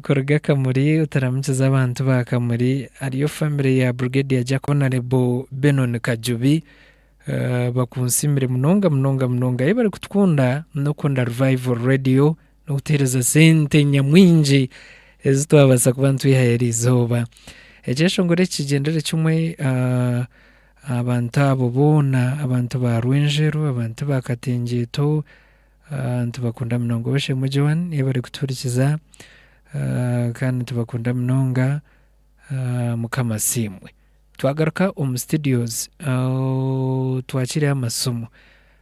Kuruga Kamuli otaramukize abantu ba Kamuli hariyo famire ya Brigadier Jack Honarebo Benon Kajubi bakunsiimire munonga munonga munonga ahi bari kutukunda n'okukunda Revival Radio n'okutuhereza sente nyamwingi ezi twabasa kuba nitwihayo eri izooba. Ekyeshongoro eki kigyendere kimwe abantu abo boona abantu ba Rwenjeru abantu ba Katengyeto, Nitubakunda munonga Obushemwe Joan ei barikutuhurikiza kandi nitubakunda munonga. Mukama asiimwe. Twagaruka omu studios twakireyo amasimu.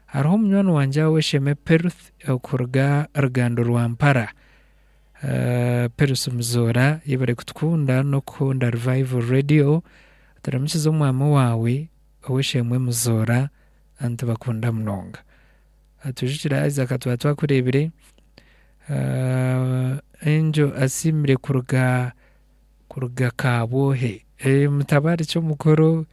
Hariho omunywani wangye ow'eisheeme Peruth okuruga Rugando rwa Mpara. Peruth Muzoora yebare kutukunda n'okukunda Revival Radio. Turamukize omwami waawe ow'eisheemwe Muzoora nitubakunda munonga. Atujukire haza akatwara twakurebire Angel asiimire kuruga kuruga kabwohe mutabare ki omukuru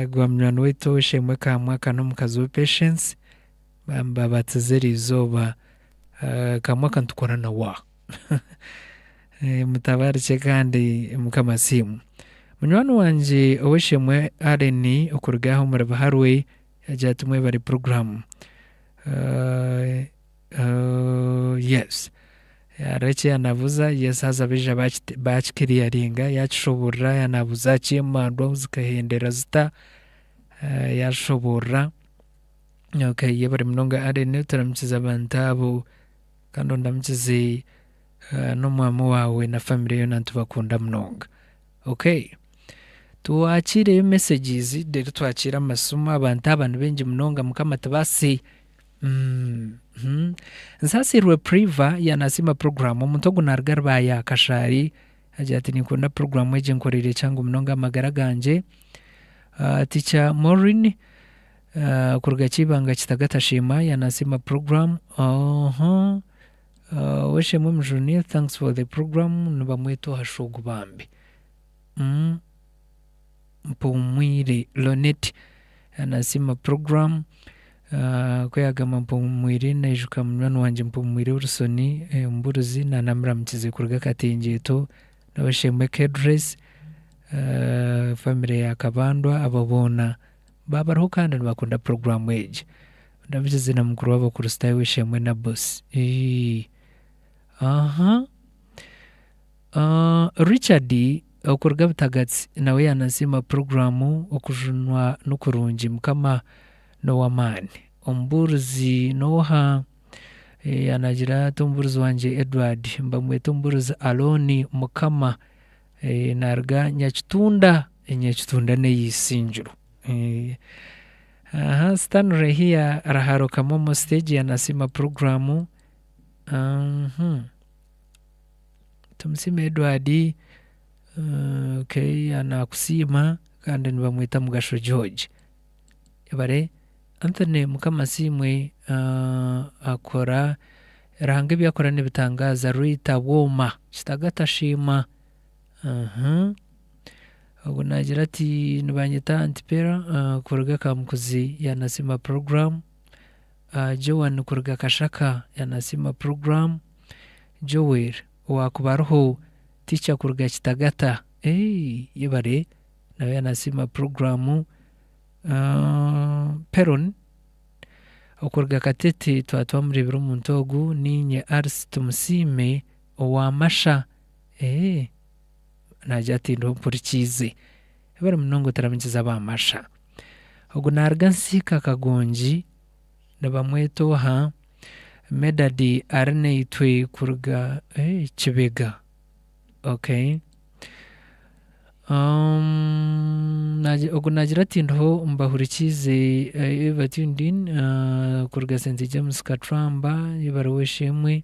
gwa munywani waitu oweshemwe kamwaka nomukazi we patience babatize erizooba kamwaka nitukora nawa mutabare ki kandi mukama asiimwe. Munywani wangye oweshemwe Allen okuruga aho omuri buharwe. Hagira ati Mwebare puroguramu. Yes. Hariho eki yaanabuuza, yes haza baija baakikiriyaringa, yaakishoboorora, yaanaabuuza aha ky'emandwa zikahendera zita, yaashoboorora. Okay, yebare munonga Allen oturamukize abantu abo kandi ondamukize n'omwaami waawe na famire yoona nitubakunda munonga. Okay twakiireyo messages reero twakiire amasimu abantu aba nibaingi munonga mukama tibasi uhmm Nsasiirwe Priva ya nasiima program omuntu ogu naruga Rubaya Kashari agira ati ninkunda program egi enkoreire kyangu munonga ahamagara gangye Teacher Moreen kuruga Kyibanga Kitagata Sheema ya nasiima program oohoo. Oweshemwe Mujuni thanks for the program nibamweta owa shogo bambi Mpumwire Lonnet nasiima program ku yagamba Mpumwire nayijuka munywani wangye Mpumwire Wilson omuburuzi na namuramukize kuruga Katengyeto na Oweshemwe Kedress family ya Kabandwa abo boona babariho kandi nibakunda program egi. Ndamukize na mukuru w'Abakristaayo w'eishe-emwe Nabosi. Ii, Aha. Aa, Richard, okuruga Butagatsi, nawe yaanasiima puroguraamu, Okujunwa ni kurungi. Mukama n'ow'amaani. Omubuurizi n'oha? Ee, yaanagira ati, Omubuurizi wangye Edward. Mbamweta Omubuurizi Alooni. Mukama. Ee, naaruga Nyakitunda. Nyakitunda n'eya Isingiro. Ee, Hansi tanu rehiya raharo kamomo stage ya nasima program uhmm Tumusime Edward okay nakusiima kandi nibamweta Mugasho George yebare Anthony mukama asiimwe akora Ruhanga ebyakora nibitangaaza Rita Bwoma Kitagata shiima. Ogwo naagira ati, Nibanyeta Aunt Pera kuruga Kamukuzi yanasiima puroguramu. Joan kuruga Kashaka yanasiima puroguramu. Joel owaakuba ariho Ticha kuruga Kitagata yebare nawe yanasiima puroguramu. Peron okuruga Katete twaba twamureebire omuntu ogwo. Niinye Alice Tumusiime owa Masha. Naagira ati, Ndi ompurikiize. Bari munonga otaramugize aba Masha. Ogu naaruga Nsiika Kagongi, nibamweta oha? Medard ari naitwe kuruga Kibega. Okay. Ogu naagira ati, Ndiho mbahurikiize you have tuned in kuruga St James Kacwamba, Ibaruwa Esheemwe.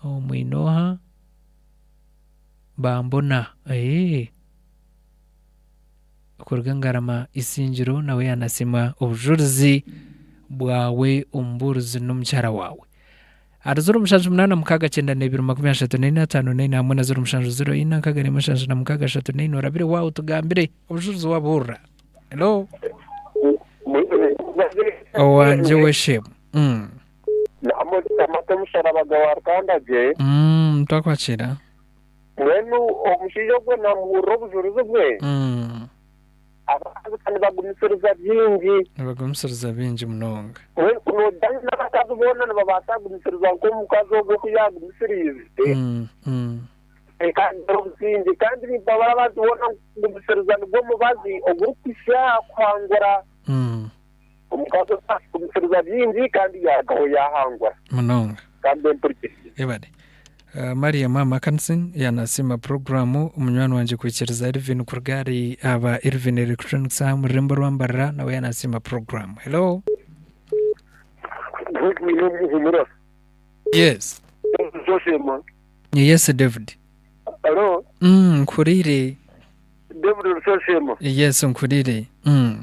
Aho mwine oha? Bambona. Eeh! Okuruga Ngarama Isingiro nawe yanasiima obujurizi bwawe omu buurizi n'omukyara waawe. Ahari ziro mushanju munaana mukaaga kyenda na ibiri makumi ashatu na ina ataano na ina hamwe na ziro mushanju ziro ina nkaaga na imwe nshanju na mukaaga ashatu na ina orabire waawe otugambire obujurizi wabuhurira. Hello? Mwine oha? Owangye we Shemu. Namwe ogitamate omusharaba gwe warukanda gye. Mutakwakira. Mbwenu omushaija ogwo namuhurira obujurizi bwe. Abakazi kandi bagumisiriza byingi. Nibagumisiriza byingi munonga. Mbwenu ku nojayo nabakazi boona nibabaasa kugumisiriza nk'omukazi ogwo ku yagumisiriize. Kwonka hagira obusingye. Kandi nimpabura abantu boona ngu kugumisiriza nigwo mubazi ogurikuhitsya aha kuhangura. Omukazi ogwo akigumisiriza bingi kandi yarugaho yahangura. Munonga. Kandi empurikirize. Ebare. Maria Maama Kansin yanasiima puroguramu munywani wangye kwikiriza Irvin kuruga ahari aba Irvin Electronics aha mururembo orwambarira nawe yanasiima puroguramu. Hello. Good bwine obuhumura. Yes. David Oshemwa. Yes David. Hello. Uhmm nkuhuriire. David Oshemwa. Yes nkuhuriire. Uhmm.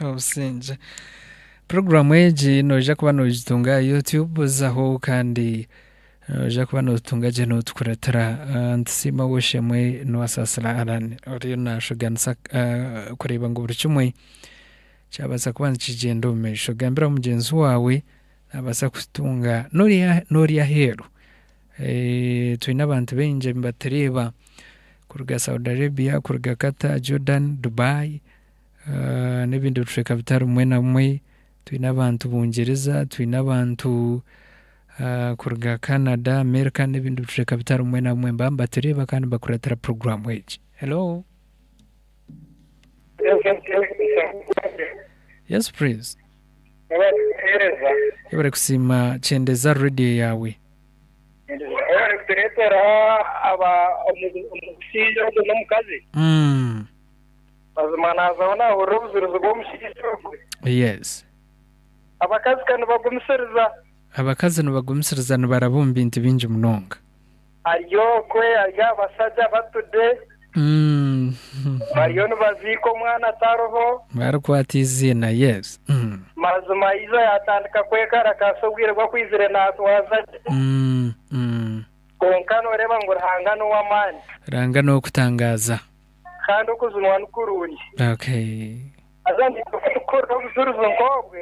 obusingye puroguramu egi noija kuba nogitunga aha youtube zaho kandi noija kuba nogitunga gye notukuratira ah, ntusiima woshemwe niwasaasira alan oriyo nashuganisa ah, kureeba ngu buri kimwe kyabaasa kuba nikigyenda omu maisho gambira mugyenzi waawe nabaasa kutunga nori nori aheeru Twine abantu baingi abibatureeba kuruga Saudi Arabia, kuruga Qatar, Jordan, Dubai nebindi bicweka bitari bimwe na bimwe. Twine abantu Bungyiriza, twine abantu kuruga Canada, America nebindi bicweka bitari bimwe na bimwe nibaba nibatureeba kandi nibakuratira puroguramu egi. Hello. Yesu praise. Yebare kusiima, kyendeza rediyo yaawe. Nitureetera aba omu- omushaija ogwo n'omukazi Mm. mazima naazaho naahurira obuzirizi bw'omushaija ogwo Yes. abakazi ka nibagumisiriza Abakazi nibagumisiriza nibaraba omu bintu bingi munonga. ari okwe ari aha bashaja batude Bariyo nibaziika omwana atariho. Barikwata eiziina, yes. Mazima Izo yaatandika kwekarakasa obwire bw'akwizire naatwaza gye. Kwonka nooreeba ngu Ruhanga n'ow'amaani. Ruhanga n'ow'okutangaaza. Kandi okujunwa ni kurungi. Okay. Haza naitwe ku turikuhurira obujurizi nk'obwe,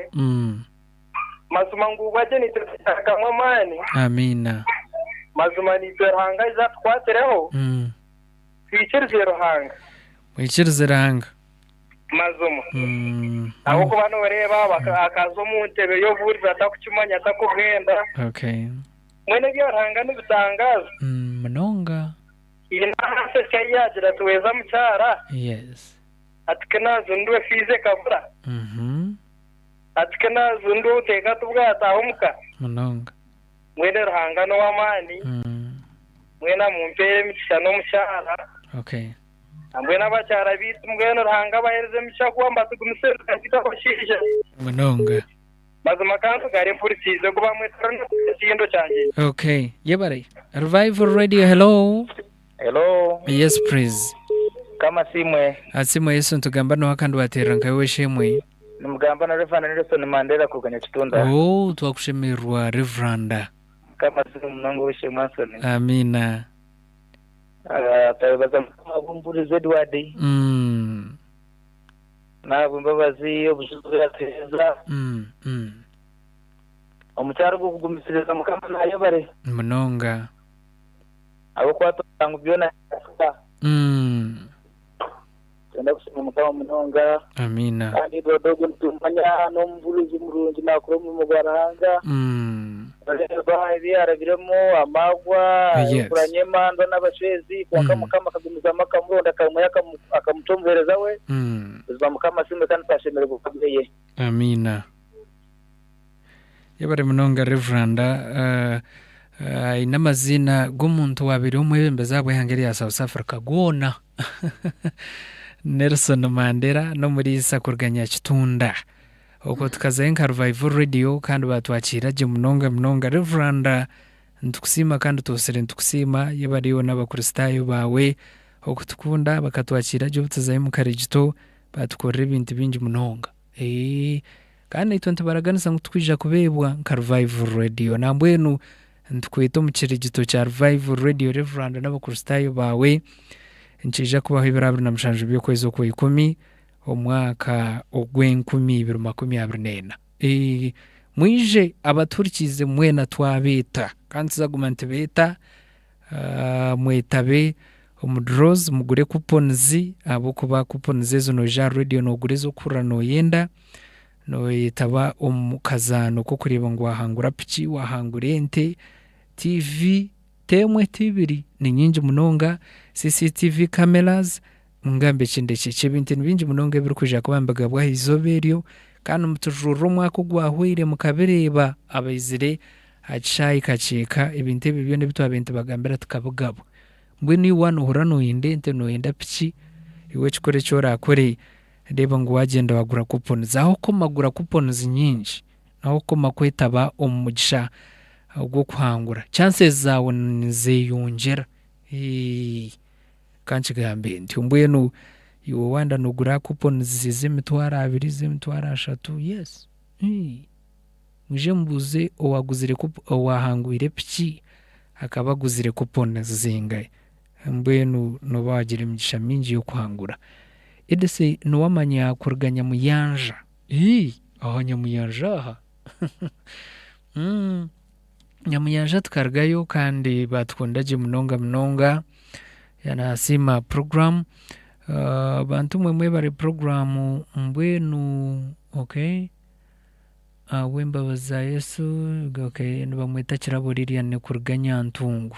mazima ngu ubwo agye naitwe nitutarugamu amaani. Amiina. Mazima naitwe Ruhanga aije atukwatireho. Twikirize Ruhanga. Mwikirize Ruhanga. Mazima. Ahabw'okuba nooreeba akaza omu ntebe y'obuhurizi atakukimanya, atakuhenda. Mbwenu ebya Ruhanga nibitangaaza. Munonga. Haine ahansi eki ahu yaagira ati, Weeza mukyara. Ati, Ku naazindwe fiizi ekabura. Ati, Ku naazindwe obuteeka tibwataaha omu ka. Munonga. Mwene Ruhanga n'ow'amaani, Mwena mumpeere emikisha n'omukyara, Hamwe n'abakyara baitu mbwenu Ruhanga abaheereze emikisha kuba mubatugumise ebitagita abashaija. Mazima kantugare mpurikiize ogu bamweta Ronald Katindo Kyangyenyi. Hello. Yes praise. Mukama asiimwe. Asiimwe Yesu nitugamba noha kandi wateerera nka iwe eshemwe. Nimugamba na Rev Nelson Mandera kuruga Nyakitunda. Ooh twakushemererwa Reveranda. Mukama asiimwe munonga ow'eishe-emwe Anthony. Amiina. Ah, twebaza Mukama ahabw'omubuurizi Edward. Mm. N'ahabw'embabazi obujuzi obu yatuheereza. Mm, mm. Omu kyaro ogw'okugumisiriza Mukama nayebare. Munonga. Ahabw'okuba twoza ngu byona nibikasika. Nikwenda kusiima Mukama munonga. Amiina. Kandi doodo ogwo nitumumanya n'omubuurizi murungi naakora omurimo gwa Ruhanga. Nooreeba ebi yaarabiremu, amaarwa, enkura nyemandwa n'abacwezi, kwonka Mukama akagumizamu akamuronda akamwiha akamuta omuheereza we. Buzima Mukama asiimwe kandi twashemererwa kuba ab'eye. Amiina. Yebare munonga Rev. Aine amaziina g'omuntu owaabaire omwebembezi aha bw'eihanga erya South Africa goona. Nelson Mandera n'Omuriisa kuruga Nyakitunda. Okwo tukazayo nka Revival Radio kandi baatwakiira gye munonga munonga. Rev. Nitukusiima kandi twotsire nitukusiima. Yebare yoona Abakristaayo baawe okutukunda bakatwakiira gye obu tuzayo omu Karegito. Baatukorera ebintu bingi munonga. Eeh Kandi naitwe nitubaraganisa ngu tukwija kubeebwa nka Revival Radio. Nambwenu nitukweta omu kirigito kya Revival Radio Reverand n'abakristaayo baawe. Nikiija kubaho ebiro abiri na mushanju by'okwezi okwa ikumi, omwaka ogw'enkumi ibiri makumi abiri n'ena. Eeh Mwije abatuhurikiize mwena twabeeta. Kandi tuzaguma nitubeeta. Mwetabe omu draws mugure coupons ahabw'okuba coupons ezo noija aha radio nogura ez'okuhurira noyenda, noyetaba omu kazaano k'okureeba ngu wahangura piki, wahangura ente, TV, ti emwe ti ibiri, ni nyingi munonga, CCTV cameras, Ngambe ki ndekye ki? Ebintu ni bingi munonga ebirikwija kuba nibigabwa aha izooba eryo, kandi mutujurire omwaka ogwahwaire mukabireeba. Abaizire aha kishaayi kakye ka, ebintu ebyo byona ebi twabaire nitubagambira tukabigabwa. Mbwenu iwe noohurira nooyenda ente, nooyenda piki, iwe ekikuru eki oraakore, reeba ngu waagyenda waagura coupons. Ahu okukoma gura coupons nyingi, ahu okukoma kwetaba omu mugisha ogw'okuhangura, chances zaawe nizeeyongyera. Ka nkigambe ntyo. Mbwenu iwe wanda nogura coupons z'emitwaro abiri, z'emitwaro ashatu, yes. Mwije mubuuze owaguzire coupon, owahangwire piki akaba aguzire coupons zingahe. Mbwenu noba wagira emigisha mingi y'okuhangura. Edise niwe amanya kuruga Nyamuyanja. Ii, aha Nyamuyanja aha. Nyamunyanja tukarugayo kandi batukunda gye munonga munonga yanahasiima program ah, bantu mwe mwebare program mbwenu okay ahabw'embabazi za Yesu okay nibamweta Kirabo Lilian kuruga Nyantungu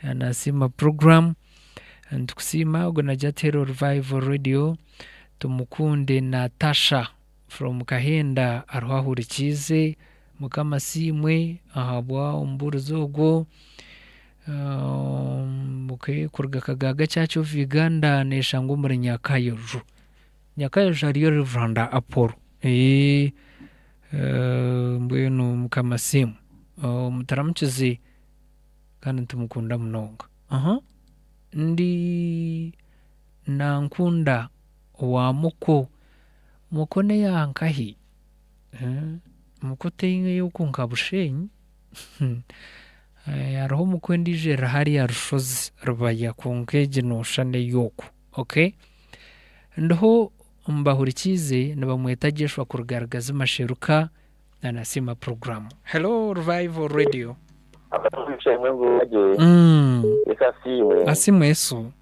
yanahasiima program nitukusiima ogwo nagya Tero Revival Radio tumukunde Natasha From Kahenda hariho ahurikiize. Mukama asiimwe ahabwa omubuurizi ogwo. Okay, kuruga Kagaaga Church of Uganda neshangwa omuri Nyakayoju. Nyakayoju hariyo Reverend Apollo. Mbwenu Mukama asiimwe. Muturamukize kandi nitumukunda munonga. Ndi Nankunda. owa muko. Muko n'eya nkahi? Muko ti ey'oku nka Bushenyi. Hariho muko endiijo eri hariya Rushozi, Rubaya kwonka egi noshusha n'ey'oku. Okay. Ndiho mbahurikiize nibamweta Jeshua kuruga Rugazi Masheruka. Na nasiima puroguramu. Hello Revival Radio. Akasumi k'eishe Mwebembezi gye. Yesu asiimwe. Asiimwe Yesu.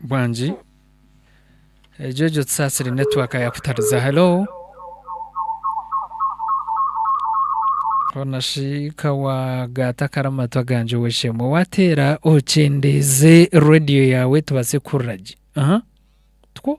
Bwangi egyo egyo tusaasire netiwaaka yaakutariza. Helo? Koona shi ka waagaata akari amu matu agangye ow'eishe-emwe. Waateera okyendeeze reediyo yaawe tubaase kuhurira gye. Aha, tikwo?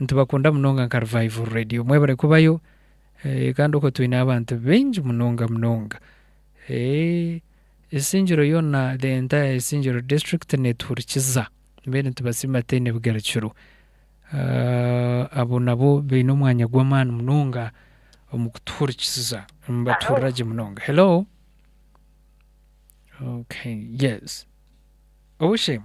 Nitubakunda munonga nka Revival Radio. Mwebare kubayo kandi okwo twine abantu baingi munonga munonga. Isingiro yoona, the entire Isingiro district netuhurikiza. Mbwenu nitubasiima tutaine bigarukiro. Abo nabo baine omwanya gw'amaani munonga omu kutuhurikiza. Nibatuhurira gye munonga. Hello. Okay, yes. Obushemwe.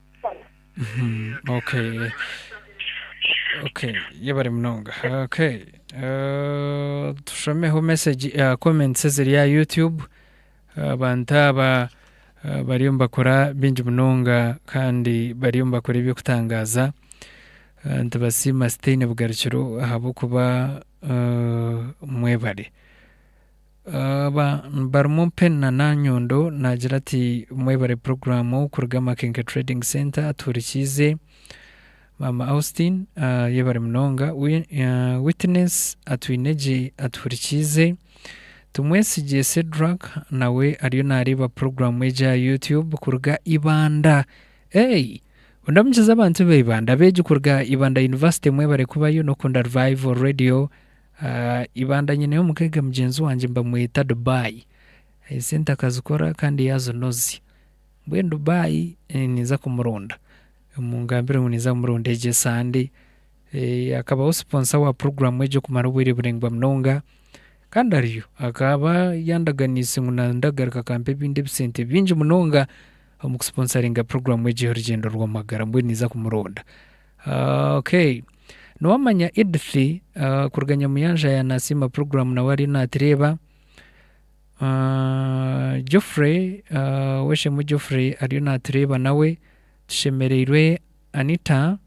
Yebare munonga. Tushomeho mesegi komenti eziri aha yutube. Abantu aba bariyo nibakora bingi munonga kandi bariyo nibakora ebyokutangaza. Nitubasiima tihaine bugarukiro ahabwokuba mwebare. Aba barimu Pen na Nanyondo naagira ati, Mwebare puroguraamu kuruga Makenke Trading Centre atuhurikiize. Maama Austin, Yebare munonga. Witness Atwinegye atuhurikiize. Tumwesigye Cedrack nawe ariyo naareeba puroguraamu egi aha Youtube kuruga Ibanda. Eei! Ondamukize abantu ba Ibanda. Abeegi kuruga Ibanda University mwebare kubayo n'okukunda Revival Radio. Ibanda nyineyo omugaga mugyenzi wangye nibamweta Dubai. Esente akazikora kandi yazinozya. Mbwenu Dubai ninza kumuronda. Mungambire ngu ninza kumuronda egyo esande. Akabaho sponsor wa puroguramu egyo okumara obwiire buringwa munonga. Kandi ariyo akaba yandaganiise ngu nande akagaruka akampa ebindi ebisente bingi munonga omu ku sponsoringa puroguramu egyo ey'orugyendo rw'amagara. Mbwenu ninza kumuronda. Okay niwamanya Edith kuruga Nyamuyanja ya nasiima program nawe ariyo natureeba. Geoffrey oweshemwe Geoffrey ariyo natureeba nawe. Tushemereirwe Anita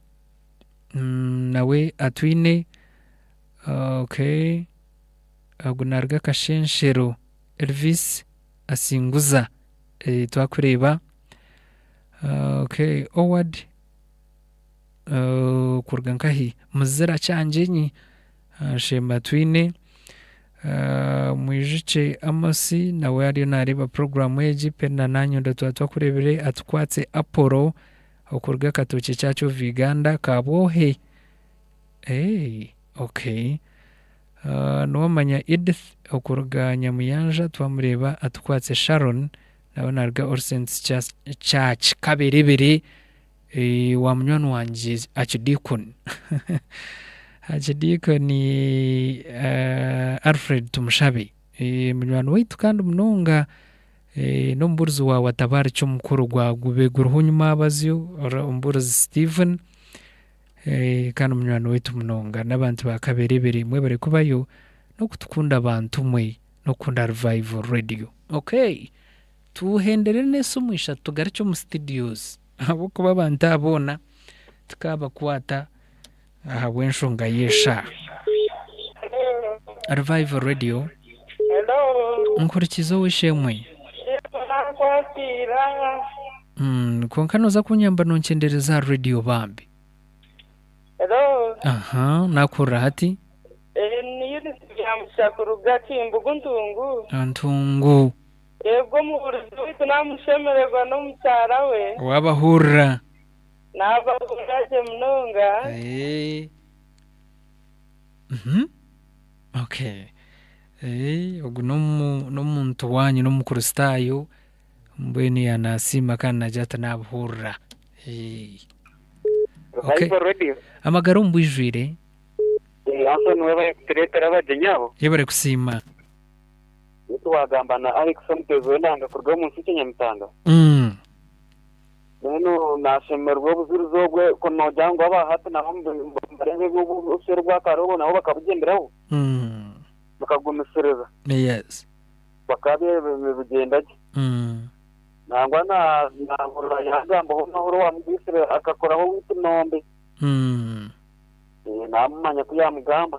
nawe atwiine. Okay ogu naruga Kashenshero Elvis asinguza twakureeba. Okay Oward. kuruga nkahi muzira kyangyenyi nshemba twine mwijukye amosi nawe ariyo nareeba puroguramu egi pere na nanye onde twaba twakurebire atukwatse aporo okuruga katookye church of Uganda kabwohe ok nowamanya Edith okuruga nyamuyanja twamureeba atukwatse Sharon nawe naruga orsence church kaberebere. Wa munywani wangye Archdeacon Archdeacon Alfred Tumushabe munywani waitu kandi munonga n'omubuurizi wa Watabariki omukuru gwa Gube guriho nyuma abazyo, omubuurizi Steven kandi munywani waitu munonga n'abantu ba Kaberebere mwebare kubayo n'okutukunda bantumwe n'okukunda Revival Radio. Okay Tuhenderere n'ensi omu ishatu tugarukye omu studios ahabw'okuba abantu abo boona tukaabakwata ahabw'enshonga y'eshaaha. Revival Radio, Nkurikiza ow'eishe-emwe. Kwonka nooza kunyamba nonkyendereza aha radio bambi. Aha, naakuhurira hati. Ntungu. Reebwa omubuurizi waitu naamushemererwa n'omukyara we. Waabahurira. Naabahurira gye munonga. Ogu n'omuntu waanyu, n'Omukristaayo. Mbwenu yaaba naasiima kandi naagira ati, Naabuhurira. Amagara omu bwijwire. Yebare kusiima. Beitu wagamba na Alex omuteezi w'enanga kuruga omu nsi Kyanyamitanga. Mbwenu nashemererwa obuzirizi obwe ku nogira ngu aba hati nabo nibareba ebi obuswere bwakarobo nabo bakabugyenderaho bakagumisiriza. Bakaba nibugyenda gye. Nangwa nahurira yagambaho na ori owamugwisire akakoraho oweitu Nombe. Namumanya ku yamugamba.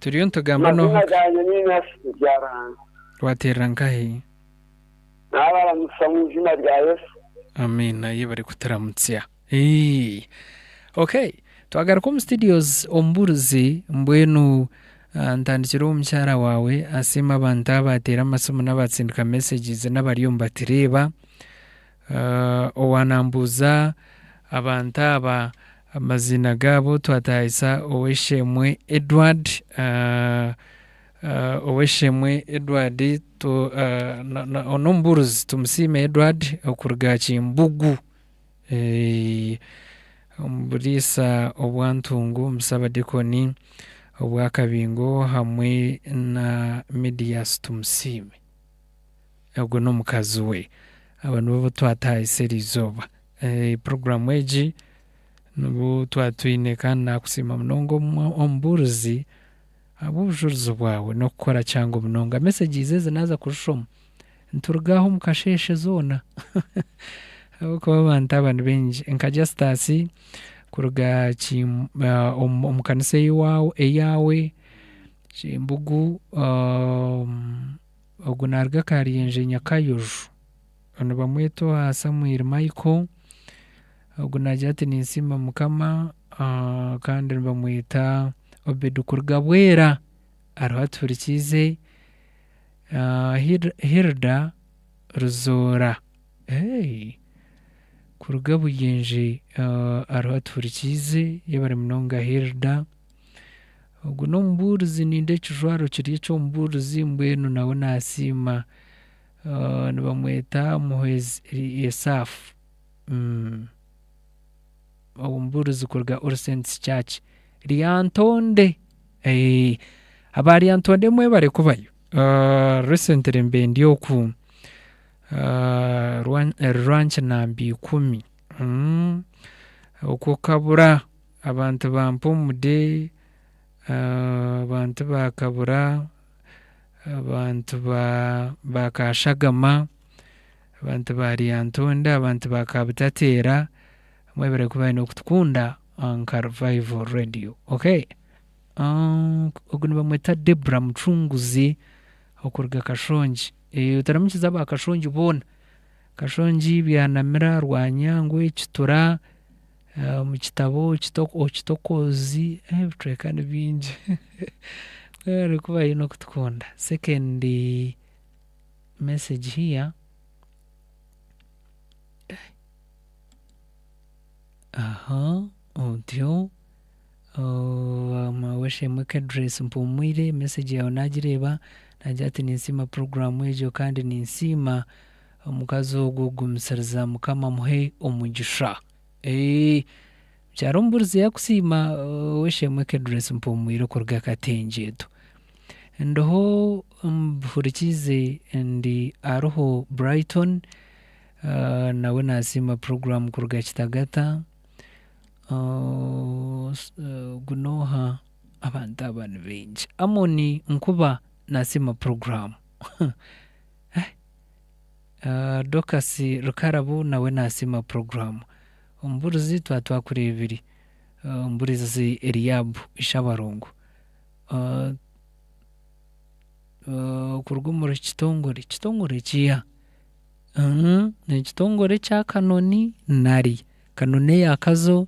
Turiyo nitugamba Amazina n'ohaka. gangye ni Ignasi Mubyarani. Wateerera nkahi? Naabaramutsya omu izina rya Yesu. Amiina. Ye barikuturamutsya. Eeii. Okay. Twagaruka omu studios omubuurizi mbwenu ntandikire omu mukyara waawe asiime abantu abaateera amasimu n'abaatsindika messages n'abariyo nibatureeba. Owa nambuuza abantu aba amaziina gaabo twatahisa Ow'esheemwe Edward, Ow'esheemwe Edward n'omubuurizi Tumusiime Edward okuruga Kimbugu omu buriisa obwa Ntungu omu Busabadikoni obwa Kabingo hamwe na Midias Tumusiime. Ogwo n'omukazi we. Abo nibo abu twatahise eri izooba. Puroguraamu egi nibu twatwine kandi naakusiima munonga omubuurizi ahabw'obujurizi bwawe n'okukora kyangu munonga. Mesegizi ezi naaza kuzishoma nituruga aha omu kasheeshe zoona ahabw'okuba abantu aba nibaingi. Nka Jastasi kuruga omu kanisa ey'owaawe, eyaawe, Kyembugu. Ogu naaruga aha Karyenje Nyakayoju. Nibamweta owa Samuel Michael. Ogu naagira ati Ninsiima Mukama kandi nibamweta Obed kuruga Bwera. Ariho atuhurikiize. Hilda Ruzoora kuruga Buyengye ariho atuhurikiize. Yebare munonga Hilda. Ogu n'omubuurizi ninda ekijwaro kiri eky'omubuurizi mbwenu nawe naasiima. Nibamweta Muhwezi Elisaafu. Omubuurizi kuruga All Saints Church Lyantonde. Aba Lyantonde mwebare kubayo. Recently mbe ndi oku Rwanki namba ikumi oku Kabura. Abantu ba Mpumude, abantu ba Kabura, abantu ba Kashagama, abantu ba Lyantonde, abantu ba Kabutateera, mwebare kuba aine okutukunda nka Revival Radio. Okay. Ogu nibamweta Debra Mucunguzi okuruga Kashongi. Otaramukize aba Kashongi boona. Kashongi, Byanamira, Rwanyangwe, Kitura. Omu kitabo Okitokoozi, ebicweka ni bingi. Webare kuba haine okutukunda. Second message here, aha otyo, mawe Shemwe Kedress mpumwire, message yaawe naagireeba naagira ati ninsiima puroguraamu egyo kandi ninsiima. Omukazi ogwo gumisiriza mukama amuhe omugisha. Eeh mukyara omuburizi yakusiima oweshemwe ke dress mpumwire okuruga akatengyetu ndiho mbihurikiize ndi aruho Brighton nawe nasiima program kuruga kitagata ogu noha abantu aba nibaingi Amon nkuba nasiima program. Ahh Dorcus Rukarabu nawe nasiima program. Omuburizi twaba twakureebire. Omuburizi Eliab Ishabarongo. Ahh Kuruga omuri kitongore, kitongore kiiha? Ekitongore ekya Kanoni nari? Kanoni eya Kazo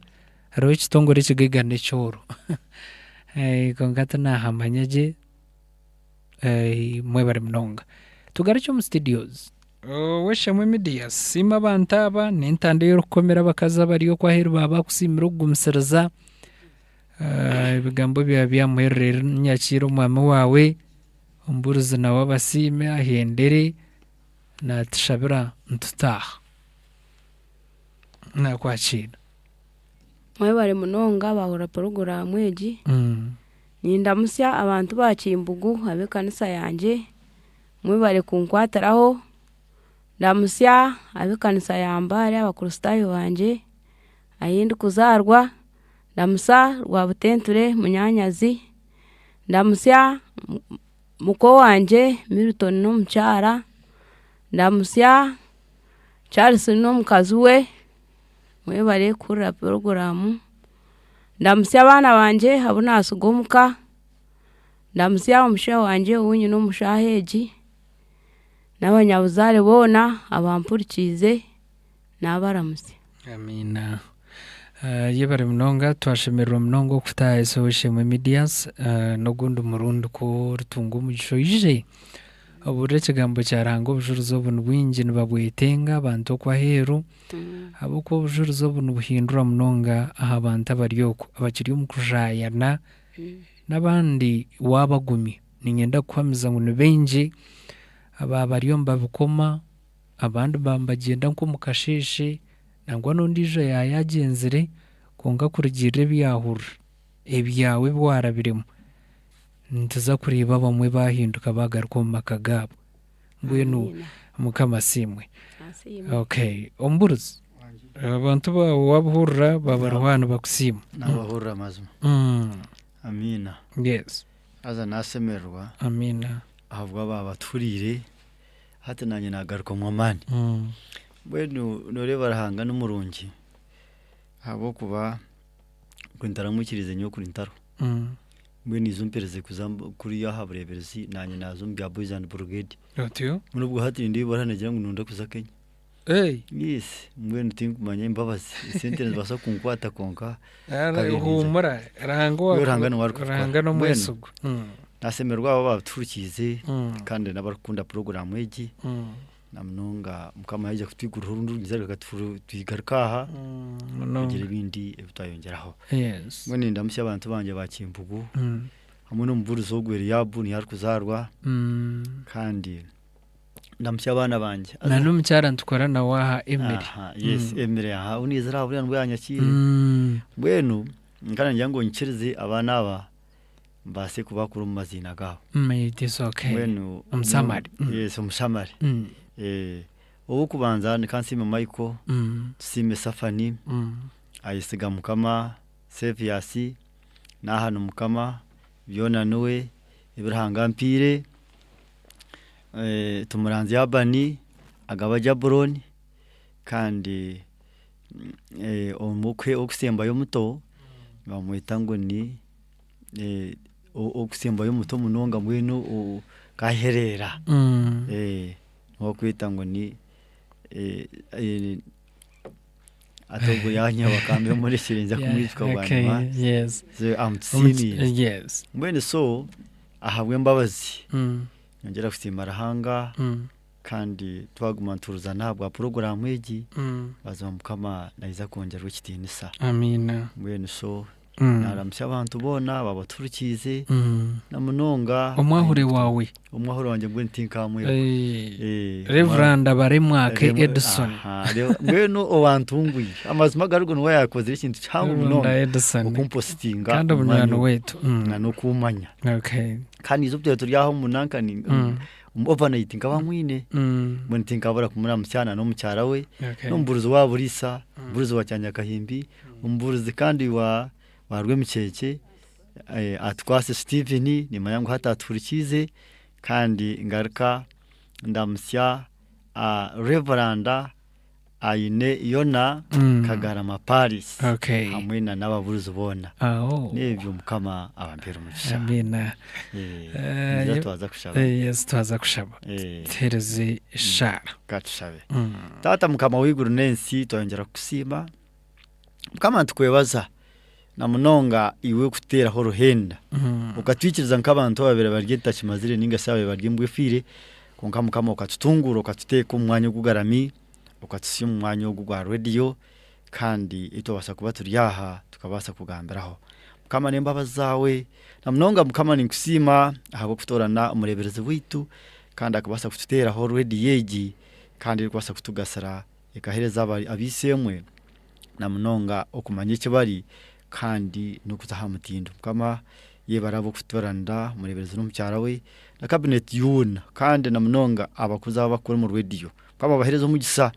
hariho ekitongore ekigaiga nekyooro. Kwonka tinahamanya gye. Mwebare munonga. Tugarukye omu studios. Ow'eishamwe media siima abantu aba, n'entanda ei orikukomera abakazi abari okwo aheeru baaba bakusiimire okugumisiriza. Ebigambo byaba byamuherera eri ninyakiira omwami waawe, omubuurizi nawe abasiime ahendere, naatushabira nitutaaha. Naakwakiira. Mwebare munonga baahurira puroguraamu egi. Nindamutsya abantu ba Kimbugu ab'ekanisa yangye, mwebare kunkwatiraho. Ndamutsya ab'ekanisa ya Mbale abakristaayo bangye ahi ndikuzaarwa. Ndamutsya Rwabutenture munyaanyazi. Ndamutsya muka owangye Milton n'omukyara. Ndamutsya Charles n'omukazi we, mwebare kuhurira puroguraamu. Ndamutsya abaana bangye abu naatsiga omu ka, ndamutsya omushija wangye ou nyine omu shaaha egi, n'abanyabuzaare boona abampurikiize, naabaramutsya. Amiina. Yebare munonga, twashemererwa munonga okukuta aha SOS-Ishemwe Medias. N'ogundi murundi ku oritunga omugisha oije obuurire ekigambo kya Ruhanga, obujuurizi obu ni bwingi nibabwetenga abantu oku aheeru. Ahabw'okuba obujurizi obu nibuhindura munonga aha bantu abari okwo abakiri omu kushayana n'abandi waabagumya, niinyenda kukuhamiza ngu ni baingi abaaba bariyo nibabikoma, abandi baaba nibagyenda nk'omu kasheeshe, nangwa n'ondiijo yaaba yaagyenzire kwonka kurugiirira ebi yaahurira, ebyawe ebi waarabiremu, nituza kureeba abamwe baahinduka baagaruka omu maka gaabo. Mbwenu Mukama asiimwe. Okay. Omuburuzi, abantu baawe waabahurira baaba bariho aha nibakusiima. Naabahurira mazima. Amiina. Yes. Haza naasemererwa. Amiina. Ahabw'abaaba batuhuriire, hati naanye naagarukamu amaani. Mbwenu nooreeba Ruhanga ni murungi ahabw'okuba nkwe ntaramuikiriize nyowe kuri ntariho. Mbwenu niija ompereze kuza kuriya aha bureeberezi naanye naaza omu bya Boys and Brigade. Otyo? Mbwenu obwo hati nindeeba ibara nigira ngu nooda kuza Kenya. Hey! Yes, mbwenu tinkumanya embabazi esente nizibaasa kunkwata kwonka Ara- Kabiri niza. Huumura, Ruhanga owa- Yo Ruhanga niwe arikukora. Ruhanga Mbwenu. n'omwesigwa. Mm, naasemererwa abo abatuhurikiize Mm. kandi n'abarikukunda puroguraamu egi mm. Na munonga Mukama yaija kutwiguriraho orundi rugyeza reka tufu- tugaruke aha munonga. kugira ebindi ebi twayongyeraho. Yes. Mbwenu nindamutsya abantu bangye ba Kimpugu Mm. hamwe n'omubuurizi ogwo Eliabu niho arikuzaarwa Mm. kandi ndamutsya abaana bangye. na n'omukyara nitukora nawe aha Emily Aha, yes, Emily aha ou niizire aha buriya nibwo yaanyakiire. Mm. Mbwenu nkaba ningira ngu nyikirize abaana aba mbaase kubakura omu maziina gaabo. Mm, it is okay. Mbwenu Omusamari. Mm. yes omushamari Mm, Eh, ow'okubanza nikansiime michael mm, tusiime safani mm. ayesiga mukama seviasi n'aha ni mukama byona niwe ebi ruhanga ampiire Eh, tumuranzya abani agaba jaburoni kandi omwe ow'okusembayo omuto nibamweta ngu ni ow'okusembayo omuto munonga mbwenu nk'ahereera niwe barikweta ngu ni hati ogwo yaanyeba bakaba bamurekire ninza kumwijuka bwanyima mbwenu so ahabw'embabazi ningira kusiima Ruhanga Kandi twaguma nituhurizana ahabwa puroguramu egi mazima mukama naiza kwongyerwa ekitinisa mbwenu so mm. naramusya abantu boona babaturikiize mm. namunonga omwahure wawe omwahure wangye mbwenu tinkamwirwa eh, reverand abaremwake edison mbwenu owantungwire amazima garigo niwe yakozire ekintu kihango munonga okumpositinga kandi omunywani wetu mm. nokumanya kandi izo turi aho munankani omu overnight nkaba mwine Mm. mbwenu tinkabura kumuramutsya na n'omukyara we Okay. n'omubuurizi wa buriisa omubuurizi wa kyanyakahimbi omubuurizi kandi wa wa rwemicheche eh, atukwaase steven nimanya ngu hati atuhurikiize kandi ngaruka ndamutsya ah, reveranda Aine Yona, Kagarama Paris hamwe na n'ababuruzi boona. Nebyo mukama abampere omugisha. Amiina. Ningira twaza kushaba. Yes twaza kushaba. Tuhereze eshaara. Katushabe. Taata mukama w'eiguru n'ensi twayongyera kukusiima. Mukama nitukwebaza na munonga iwe kuteeraho oruhenda okatwikiriza nk'abantu ababaire bari ebitakimazire ninga shi ababaire bari embwa efiire kwonka Mukama okatutunguura okatuteeka omu mwanya ogugarami okatutsya omu mwanya ogu gwa radiyo kandi ei twabaasa kuba turi aha tukabaasa kugambiraho. Mukama n'embabazi zaawe na munonga Mukama ninkusiima ahabw'okutoorana omureeberezi waitu kandi akabaasa kututeeraho radiyo egi kandi erikubaasa kutugasira Ekaheereza ab'eishe-emwe na munonga okumanya eki bari kandi n'okuza aha mutindo. Mukama yebare ab'okutuburanira, omureeberezi n'omukyara we na kabineti yoona kandi na munonga abakozi abu bakukora omu rwediyo. Mukama abaheereze omugisa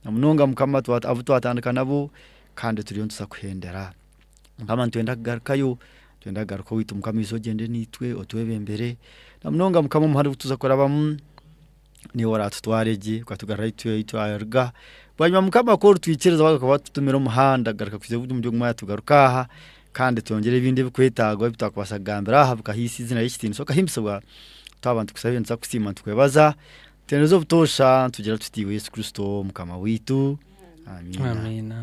na munonga Mukama abu twatandika nabo kandi turiyo nituza kuhendera. Mukama nitwenda kugarukayo, nitwenda kugaruka owaitu Mukama oije ogyende naitwe otwebembere na munonga Mukama omu muhanda ogu tuza kurabamu. niiwe oraatutware gye ukatugarura ahi tu- ahi twaruga bwanyima mukama ku orutwikiriza waaba ukaba watutumire omuhanda garuka kuza ogu- omuri ogu mwanya tugaruke aha kandi twongyere ebindi ebikwetagwa ebi twakubaasa kugambira aha bikahaisa eizina ry'ekitiinisa okahimbisibwa twaba nitukusaba ebyo nituza kusiima nitukubaza tuheereze obutoosha nitugira tuti iwe Yesu Kristo mukama waitu Amiina Amiina.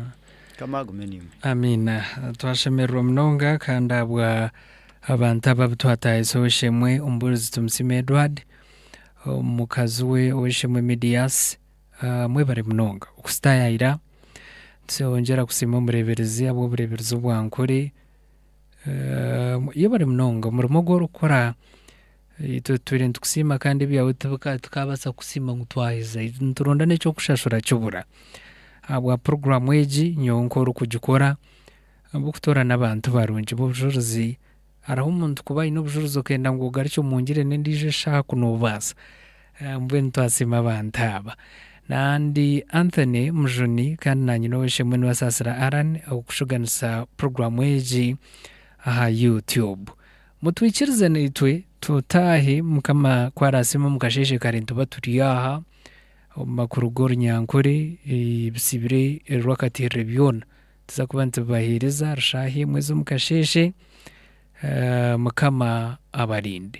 Mukama agume niiwe. Amiina. Twashemererwa munonga kandi ahabwa abantu aba abu twatahizeho shemwe omubuurizi Tumusiime Edward. mukazi we ow'eishe-emwe Midiyaasi, mwebare munonga okusitaayayira. Nitwongyera kusiima omureeberezi ahabw'obureeberezi obu ankore. Yebare munonga omurimo ogu orikukora, itwe tutwire nitukusiima kandi ebyawe tibika tikaabaasa kukusiima ngu twaheza. Nituronda n'eky'okushashura kibura. Ahabwa puroguraamu egi nyowe nk'orikugikora, ahabw'okutoorana abantu barungi b'obujurizi. Hariho omuntu kuba aine obujuruzi okenda ngu ogarukye omu ngirende endiijo eshaaha ku noobaasa? Mbwenu twasiima abantu aba. Na ndi Anthony Mujuni kandi naanye n'ow'eishe mwene wa Saasira Allan ow'okushuganisa puroguraamu egi aha Youtube. Mutwikirize naitwe tutaahe Mukama ku araasiima omu kasheeshe kare nituba turi aha omu makuru g'orunyankore, ebitsibire rwakatiirire byona. Nituza kuba nitubaheereza rushaaha emwe z'omu kasheeshe. Mukama abarinde.